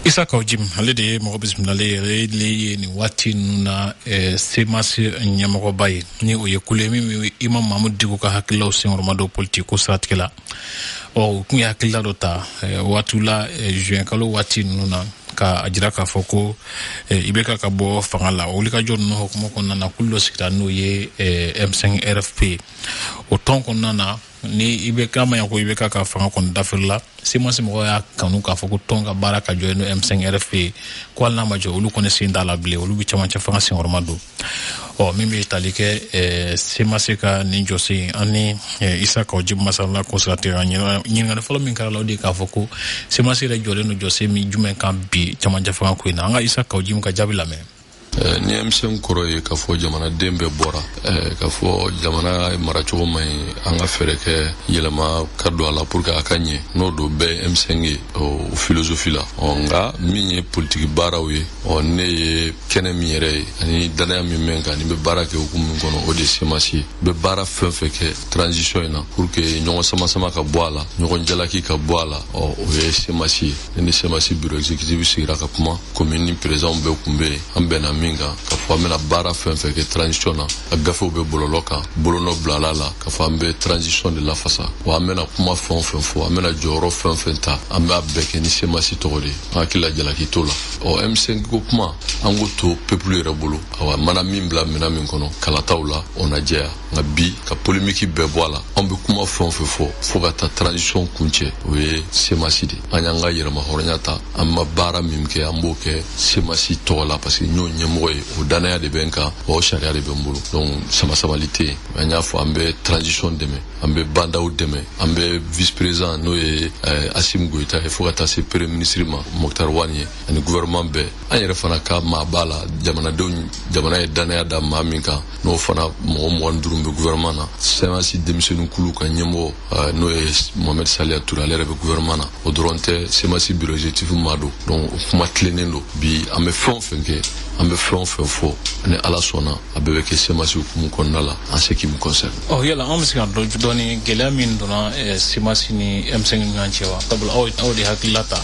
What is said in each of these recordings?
isa kaw jim ale de ye mɔgɔ bisimilalen yɛrɛ le ye nin waati ninnu na eh, semasi ɲɛmɔgɔba ye ni o ye kulu ye min bɛ imamu mamudu diko ka hakililaw senkɔrɔma don politiki ko siratigɛ la ɔ u tun ye hakilila dɔ ta eh, waatiw la eh, juin kalo waati ninnu na ka a jira k'a fɔ ko eh, IBK ka bɔ fanga la wulikajɔ ninnu hokumu kɔnɔna na kulu dɔ sigira n'o ye eh, m5 rfp o tɔn kɔnɔna na ni i bɛ k'a ma ɲa ko IBK ka fanga kɔni dafirila semasi mɔgɔw y'a kanu k'a fɔ ko tɔn ka baara ka jɔ n'o m5 rfp ye ko hali n'a ma jɔ olu kɔni sen t'a la bilen olu bɛ camancɛ fanga senkɔrɔma don ɔ min bɛ tali kɛ semasi ka nin jɔsen an ni isa kaw jimu masalala ko siratigɛ ɲininkali fɔlɔ min kɛra a la o de k'a fɔ ko semasi yɛrɛ jɔlen don jɔsen min jumɛn kan bi camancɛ fanga ko in na an ka isa kaw jimu ka jaabi lamɛn Eh, ni m5 kɔrɔ ye k'a fɔ jamanaden bɛɛ bɔra eh, k'a fɔ jamana maracogo man ɲi an ka fɛɛrɛ kɛ yɛlɛma ka don a la pour que a ka ɲɛ n'o don bɛɛ m5 ye o filozofi la ɔ nka min ye politiki baaraw ye ɔ ne ye kɛnɛ min yɛrɛ ye ani dannaya min bɛ n kan ne bɛ baara kɛ hukumu min kɔnɔ o de ye semasi ye n bɛ baara fɛn fɛn kɛ transition in na pour que ɲɔgɔn sama sama ka bɔ a la ɲɔgɔn jalaki ka bɔ a la ɔ o ye semasi ye ne ni semasi bureau exécutif sigira ka kuma commune présidentw bɛɛ kun bɛ yen an bɛnna min kan ka fɔ an bɛna baara fɛn fɛn kɛ transition na a gafew bɛ bɔlɔlɔ kan bolonɔ bilala a la ka fɔ an bɛ transition de lafasa wa an bɛna kuma fɛn o fɛn fɔ an bɛna jɔyɔrɔ fɛn o fɛn ta an b'a bɛɛ kɛ ni semasi tɔgɔ de ye an hakilila jalaki t'o la ɔ m5 ko kuma an k'o to peuple yɛrɛ bolo awa mana min bila minɛn min kɔnɔ kalataw la o na jɛya nka bi ka polemiki bɛɛ bɔ a la an bɛ kuma fɛn o fɛn fɔ fo ka taa transition kuncɛ o ye semasi de an y'an ka yɛrɛmahɔrɔnya ta an mana baara min kɛ an b'o kɛ semasi tɔgɔ la parce que n y'o ɲɛmɔgɔ ye o dannaya de bɛ n kan wa o sariya de bɛ n bolo donc samasamali tɛ yen an y'a fɔ an bɛ transition dɛmɛ an bɛ ba ndaw dɛmɛ an bɛ vice président n'o ye eh, asimi goyita ye fo ka taa se premier ministre ma mokhtar wani ye ani gouvernement bɛɛ an yɛrɛ fana ka maa b'a la jamanadenw jamana ye dannaya da maa min kan n'o fana mɔgɔ mɔgɔ duuru bɛ gouvernement na semasi denmisɛnnin kulu ka ɲɛmɔgɔ eh, n'o ye Mohamed Saliya Ture ale yɛrɛ bɛ gouvernement na o dɔrɔn tɛ semasi bureau exécutif maa don donc o kuma tilennen don bi an bɛ fɛn o fɛn kɛ an bɛ fɛn o fɛn fɔ ni ala sɔnna a bɛɛ bɛ kɛ semasi hukumu kɔnɔna la en ce qui me concerne ɔ oh, yala an bɛ se k'a dɔn dɔɔni gɛlɛya min donna eh, semasi ni m5 ni ɲɔgɔn cɛ wa sabula aw de hakilila ta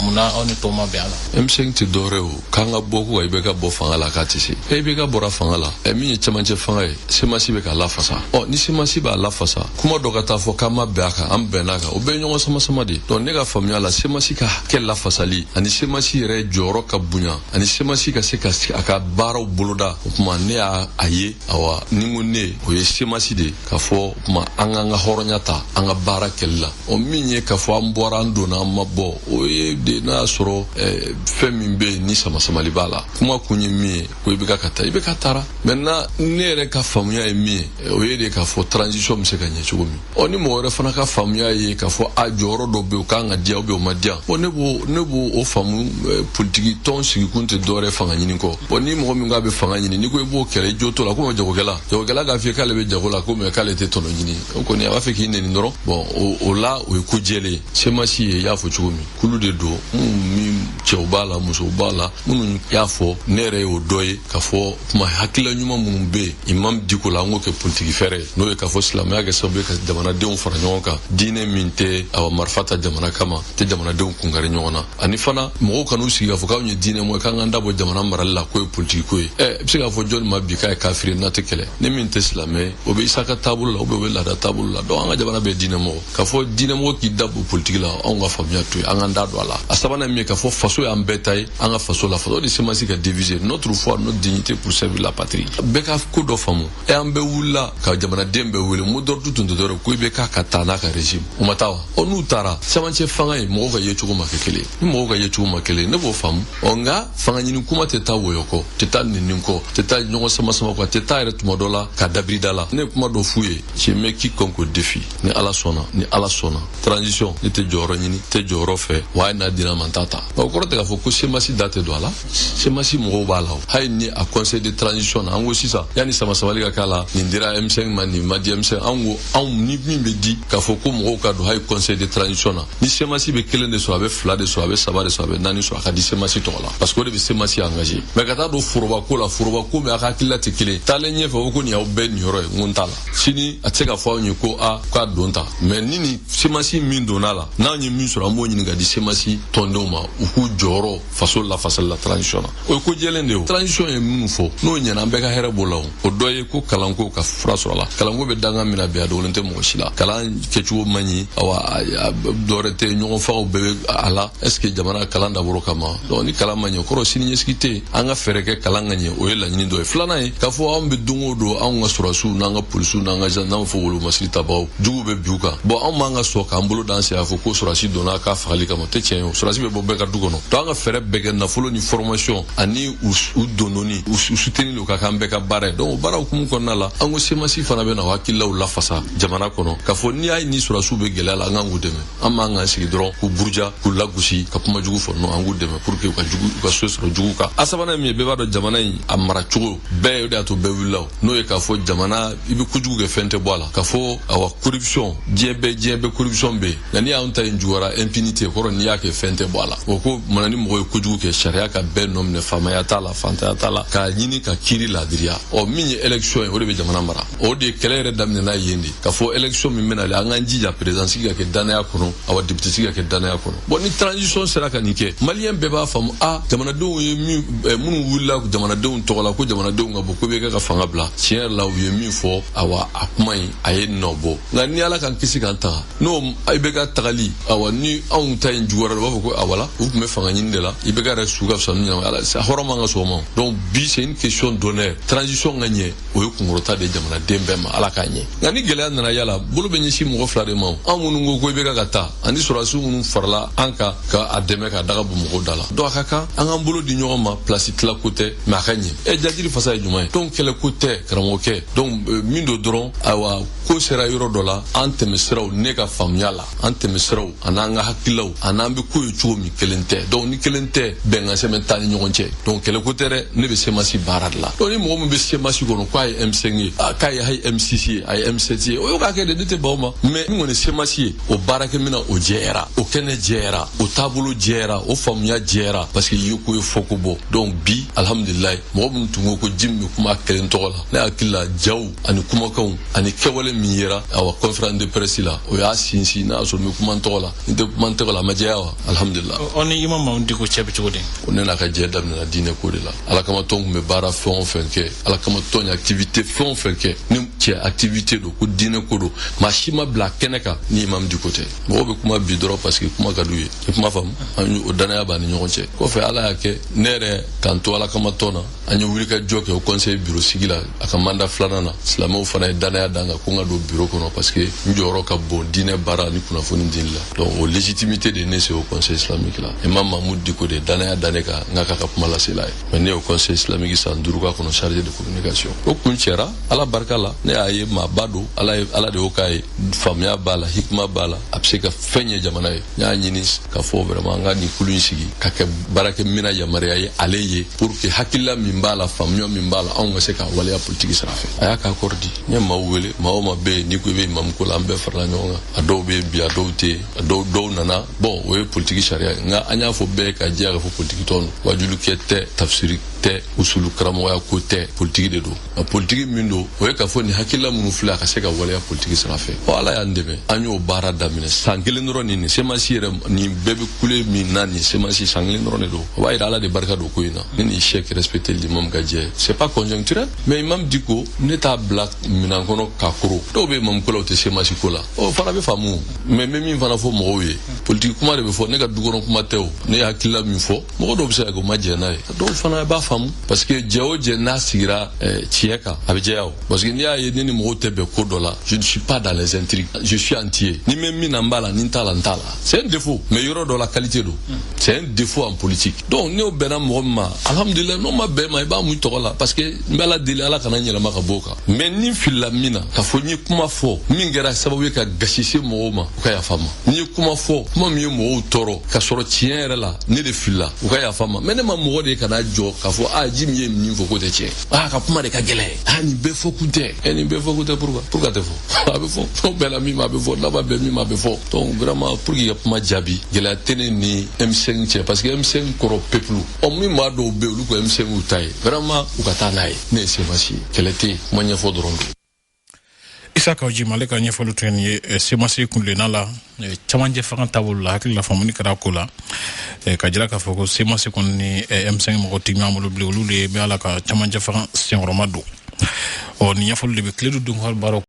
munna aw ni tɔw ma bɛn a la m5 tɛ dɔwɛrɛ o k'an ka bɔ ko ka ibeka bɔ fanga la k'a tɛ se ibeka bɔra fanga la ɛ min ye cɛmancɛ fanga ye semasi bɛ k'a lafasa ɔ ni semasi b'a lafasa kuma dɔ ka taa fɔ k'an ma bɛn a kan an bɛnna a kan o bɛɛ ye ɲɔgɔn samasama de ye dɔnku ne ka faamuya la semasi ka hakɛ lafasali ani semasi yɛrɛ jɔyɔrɔ ka bonya ani semasi ka se ka a ka baaraw boloda o tuma ne y'a a ye awa ni ko ne o ye semasi de ye k'a fɔ o tuma an k'an ka hɔrɔnya ta an ka baara kɛli la o min ye k'a fɔ an bɔra an donna an ma bɔ o ye de n'a y'a sɔrɔ eh, fɛn min bɛ yen ni samasamali b'a la kuma kun ye min ye ko ibeka ka taa ibeka taara maintenant ne yɛrɛ ka faamuya ye min ye eh, o ye de k'a fɔ transition bɛ se ka ɲɛ cogo min ɔ ni mɔgɔ wɛrɛ fana ka faamuya ye k'a fɔ a jɔyɔrɔ dɔ bɛ yen o kan ka diya ubiyɛn o ma diya bɔn ne b'o ne b'o o faamu eh, politiki tɔn sigikun tɛ dɔwɛrɛ fanga ɲini kɔ bɔn ni mɔgɔ min k'a bɛ fanga ɲini n'i ko i b'o kɛlɛ i jo t'o la komi jagokɛla jagokɛla k'a f'i ye k'ale bɛ jago la ko mɛ k'ale tɛ tɔnɔ ɲini o kɔni a b'a fɛ k'i neni dɔrɔn bɔn o la o ye ko jɛlen ye semasi ye y'a fɔ cogo min kulu de don minnu cɛw b'a la musow b'a la minnu y'a fɔ ne yɛrɛ y'o dɔ ye k'a fɔ kuma hakilila ɲuman minnu bɛ yen imam diko la an k'o kɛ politiki fɛɛrɛ ye n'o ye k'a fɔ silamɛya kɛ sababu ye ka jamanadenw fara ɲɔgɔn kan diinɛ min tɛ awa marifa ta jamana kama tɛ jamanadenw kungari ɲɔgɔn na ani fana mɔgɔw kan'u sigi k'a fɔ k'anw ye diinɛ mɔgɔ ye k'an k'an da bɔ jamana marali la k'o ye politiki ko ye ɛ i bɛ se k'a fɔ jɔni ma bi k'a ye kafiri n'a tɛ kɛlɛ ni min tɛ silamɛ o bɛ isa ka taabolo la ubiyɛn o bɛ laada taabolo la dɔnku an ka jamana bɛɛ diinɛ mɔgɔ k'a fɔ diinɛ mɔgɔ k'i da bɔ politiki la anw ka faamuya t'o ye an k'an da don a la a sabanan min ye k'a fɔ faso y'an bɛɛ ta ye an ka faso lafasa o de semasi ka devise notre foi notre dignité pour servir la patrie bɛɛ ka ko dɔ faamu e an bɛ wulila ka jamanaden bɛɛ wele mot d'ordre tun tun tɛ dɔrɔn ko ibeka ka taa n'a ka régime o ma taa wa ɔ n'u taara cɛmancɛ fanga ye mɔgɔw ka yecogo ma kɛ kelen ni mɔgɔw ka yecogo ma kelen ne b'o faamu ɔ nka fanga ɲini kuma tɛ taa wɔyɔ kɔ tɛ taa nenini kɔ tɛ taa ɲɔgɔn samasama kɔ tɛ taa yɛrɛ tuma dɔ la ka dabirida la ne ye kuma dɔ f'u ye je mets quiconque au défi ni ala sɔnna ni ala sɔnna transition ne tɛ jɔyɔrɔ ɲini tɛ jɔyɔrɔ fɛ wa hali n'a dira n ma n t'a ta o kɔrɔ tɛ k'a fɔ ko semasi da tɛ don a la semasi mɔgɔw b'a la o hali ni a conseil de transition na an ko sisan yanni samasamali ka k'a la nin dira m5 ma nin ma di m5 an ko anw ni min bɛ di k'a fɔ ko mɔgɔw ka don hali conseil de transition na ni semasi bɛ kelen de sɔrɔ a bɛ fila de sɔrɔ a bɛ saba de sɔrɔ a bɛ naani sɔrɔ a ka di semasi tɔgɔ la parce que o de bɛ semasi engagé mɛ ka taa don forobako la forobako min a ka hakilila tɛ kelen taalen ɲɛfɛ o ko nin y'aw bɛɛ niyɔrɔ ye n ko n t'a la sini a tɛ se ka fɔ anw ye ko a k'a don ta mɛ ni nin semasi min donna a la n'anw ye min sɔrɔ an b'o ɲini k'a di semasi tɔndenw ma u k'u jɔyɔrɔ faso lafasali la transition na o ye ko jɛlen de ye transition ye minnu fɔ n'o ɲɛna an bɛɛ ka hɛrɛ b'o la o o dɔ ye ko kalanko ka fura sɔr'o la kalanko bɛ dangan min na bi a dogolen tɛ mɔgɔ si la kalan kɛcogo man ɲi awa dɔwɛrɛ tɛ ɲɔgɔn fagaw bɛɛ bɛ a la est ce que jamana kalan dabɔr'o kama donc ni kalan ma ɲɛ kɔrɔ sini ɲɛsigi tɛ yen an ka fɛɛrɛ kɛ kalan ka ɲɛ o ye laɲini dɔ ye filanan ye k'a fɔ anw bɛ don o don anw ka sɔrɔdasiw n'an ka polisiw n'an ka n'an fɔ wolomasiri tabagaw juguw bɛ bin u kan bɔn anw man ka sɔn k'an bolo d'an sen a fɔ ko sɔrɔdasi donna k'a fagali kama tɛ tiɲɛ ye o sɔrɔdasi bɛ bɔ bɛɛ ka du kɔnɔ donc an ka fɛɛrɛ bɛɛ kɛ nafolo ni formation ani u dondonni u soutenir o ka k'an bɛɛ ka baara ye donc o baara hukumu kɔnɔna la an ko semasi fana bɛ na o hakililaw lafasa jamana kɔnɔ k'a fɔ n'i y'a ye ni sɔrɔdasiw bɛ gɛlɛya la an k'an k'u dɛmɛ an man k'an sigi dɔrɔn k'u buruja k'u lagosi ka kuma jugu fɔ non an k'u dɛmɛ pour que u ka jugu u ka se sɔrɔ jugu kan a sabanan ye min ye bɛɛ b'a dɔn jamana in a mara cogo bɛɛ o de y'a to bɛɛ wulila o n'o ye k'a fɔ jamana i bɛ kojugu kɛ fɛn tɛ bɔ a la k'a fɔ awa corruption diɲɛ bɛɛ diɲɛ bɛɛ corruption bɛ yen nka n'i y'anw ta in juguyara impunité kɔrɔ n'i y'a kɛ fɛn tɛ bɔ a la o ko mana ni mɔgɔ ye kojugu kɛ sariya ka bɛɛ nɔ minɛ faamaya t'a la fantanya t'a la k'a ɲini ka kiiri laadiriya ɔ min ye élection ye o de bɛ jamana mara o de kɛlɛ yɛrɛ daminɛna yen de k'a fɔ élection min bɛna le an k'an jija président sigi ka kɛ dannaya kɔnɔ awa député sigi ka kɛ dannaya kɔnɔ bon ni transition sera ka nin kɛ maliyɛn bɛɛ b'a faamu a ah, jamanadenw ye min eh, minnu wulila jamanadenw tɔgɔ la ko jamanadenw ka bɔ ko ibk ka fanga bila tiɲɛ yɛrɛ la u ye min fɔ awa a kuma in a ye nɔ bɔ nka ni ala k'an kisi k'an tanga ni ibk tagali awa ni anw ta in juguyara u b'a fɔ ko voilà u tun bɛ fanga ɲini de la ibk yɛrɛ su ka fisa ni ɲɛnama ala hɔrɔn man ka sɔn o ma donc bi c'est une question d'honneur transition ka ɲɛ o ye kunkɔrɔta de jamanaden bɛɛ ma ala k'a ɲɛ nka ni gɛlɛya nana yala bolo bɛ ɲɛsin mɔgɔ fila de ma anw minnu ko ko ibk ka taa ani sɔrɔdasiw minnu farala an kan ka a dɛmɛ ka daga bɔ mɔgɔw da la donc a ka kan an k'an bolo di ɲɔgɔn ma place tila ko tɛ mais a ka ɲɛ ɛ jajiri fasa ye jumɛn ye donc kɛlɛ ko tɛ karamɔgɔkɛ donc min don dɔrɔn ayiwa ko sera yɔrɔ dɔ la an tɛmɛsiraw ne ka faamuya la an tɛmɛsiraw a n'an ka hakililaw a n'an bɛ ko ye cogo min kelen tɛ donc ni kelen tɛ bɛnkan sɛbɛn t'an ni ɲɔgɔn cɛ donc kɛlɛko tɛ dɛ ne bɛ semasi baara de la donc ni mɔgɔ min bɛ semasi kɔnɔ k'a ye m5 ye k'a ye hayi m6 ye a ye m7 ye o y'o k'a kɛ de ne tɛ ban o ma mais min kɔni semasi ye o baarakɛminɛn o jɛyara o kɛnɛ jɛyara o taabolo jɛyara o faamuya jɛyara parce que yeko ye fɔko bɔ donc bi alhamdulilayi mɔgɔ minnu tun ko ko djim bɛ kuma a kelen tɔgɔ la ne hakili la jaw ani kumakanw ani kɛwale min yera awa conférence de presse la o y'a sinsin n'a sɔrɔ n bɛ kuma n tɔgɔ la n tɛ kuma n tɔgɔ la a ma jɛya wa alhamdulila o ni imam mahmud diko cɛ bɛ cogo di o ne n'a ka jɛ daminɛna diinɛ ko de la ala kama tɔn tun bɛ baara fɛn o fɛn kɛ ala kama tɔn ye activité fɛn o fɛn kɛ ni cɛ activité don ko diinɛ ko don maa si ma bila kɛnɛ kan ni imam diko tɛ mɔgɔw bɛ kuma bi dɔrɔn parce que kuma ka d'u ye i kuma faamu o danaya b'a ni ɲɔgɔn cɛ kɔfɛ ala y'a kɛ ne yɛrɛ k'an to ala kama tɔn na an ye wulikajɔ kɛ haut conseil biro sigi la a ka mandat filanan na silamɛw fana ye danaya da n kan ko n ka don biro kɔnɔ parce que n jɔyɔrɔ ka bon diinɛ baara ni kunnafoni dili la donc o légitimité de ne se haut conseil islamique la imam mahmud diko de danaya da ne kan n ka k'a ka kuma lasela ye mais ne ye haut conseil islamique san duuru k'a kɔnɔ chargé de communication o kuncɛra ala barika la ne y'a ye maaba don ala de y'o k'a ye faamuya b'a la hikima b'a la a bɛ se ka fɛn ye jamana ye n y'a ɲini k'a fɔ vraiment an ka nin kulu in sigi ka kɛ baarakɛminɛn yamaruya ye ale ye pour que hakilila min b'a la faamuya min b'a la anw ka se k'a waleya politiki sira fɛ a y'a ka accord di n ye maaw wele maa o maa bɛ yen n'i ko i bɛ imamu ko la an bɛɛ farala ɲɔgɔn kan a dɔw bɛ yen bi a dɔw tɛ yen a dɔw dɔw nana bon o ye politiki sariya ye nka an y'a fɔ bɛɛ k'a jɛya k'a fɔ politiki tɔn don waajulikɛ tɛ tafsiri tɛ usulu karamɔgɔya ko tɛ politiki de don a politiki min don o ye k'a fɔ nin hakilila minnu filɛ a ka se ka waleya politiki sira fɛ ɔ ala y'an dɛmɛ an y'o baara daminɛ san kelen dɔrɔn nin nin semasi yɛrɛ nin bɛɛ bɛ kule min na nin semasi san kelen dɔrɔn de don o b'a yira ala de barika don ko in na ne ni sɛki respecté l'imam ka jɛ c'est pas conjoncturel mais imam Dicko ne t'a bila minan kɔnɔ k'a koro dɔw bɛ imam ko la u tɛ semasi ko la o fana bɛ faamu mais n bɛ min fana fɔ mɔgɔw ye politiki kuma de bɛ fɔ ne ka dukɔnɔ kuma tɛ o ne ye hakilila min fɔ mɔgɔ dɔw bɛ se ka kɛ u ma jɛn n'a ye dɔw fana b'a faamu parce que jɛ o jɛ n'a sigira eh, tiɲɛ kan a bɛ jɛya o parce que n'i y'a ye ne ni mɔgɔw tɛ bɛn ko dɔ la je ne suis pas dans les intrigues je suis entier ni n bɛ min na n b'a la ni n t'a la n t'a la c'est un défaut mais yɔrɔ dɔ la qualité don c'est un défaut en politique donc n'o bɛnna mɔgɔ min ma alhamdulilayi n'o ma bɛn i ma i b'a mun i tɔgɔ la parce que n bɛ ala deli ala kana n yɛlɛma ka bɔ o kan mais ni n filila min na k'a fɔ n ye kuma fɔ min kɛra sababu ye ka gasi se mɔgɔw ma u ka yafa n ma n ye kuma fɔ kuma min ye mɔgɔw tɔɔrɔ ka sɔrɔ tiɲɛ yɛrɛ la ne de filila u ka yafa n ma mais ne ma mɔgɔ de kana jɔ k'a fɔ a Djim ye min fɔ k'o tɛ tiɲɛ a ka kuma de ka gɛlɛn a nin bɛɛ fɔ kun tɛ ɛ nin bɛɛ fɔ kun tɛ pourquoi pourquoi a tɛ fɔ a bɛ fɔ n'a bɛnna min ma a bɛ fɔ n'a ma bɛn min ma a bɛ fɔ donc vraiment pour que ka kuma jaabi gɛlɛya tɛ ne ni M5 cɛ parce que M5 kɔrɔ peuple ɔ min maa dɔw bɛ olu ko m5 ta ye vraiment u ka taa n'a ye ne ye semasi kɛlɛ tɛ yen kuma ɲɛfɔ dɔrɔn don Issa Kaou Djim ale ka ɲɛfɔli tun ye eh, semasi kunlenna la eh, camancɛ fanga taabolo la hakilila faamuni kɛra ko la eh, k'a jira k'a fɔ ko semasi kɔni ni m5 mɔgɔ tɛ ɲɔgɔn bolo bilen olu de b'a la ka camancɛ fanga senkɔrɔmadon ɔ nin ɲɛfɔli de bɛ tile du donkaw baaraw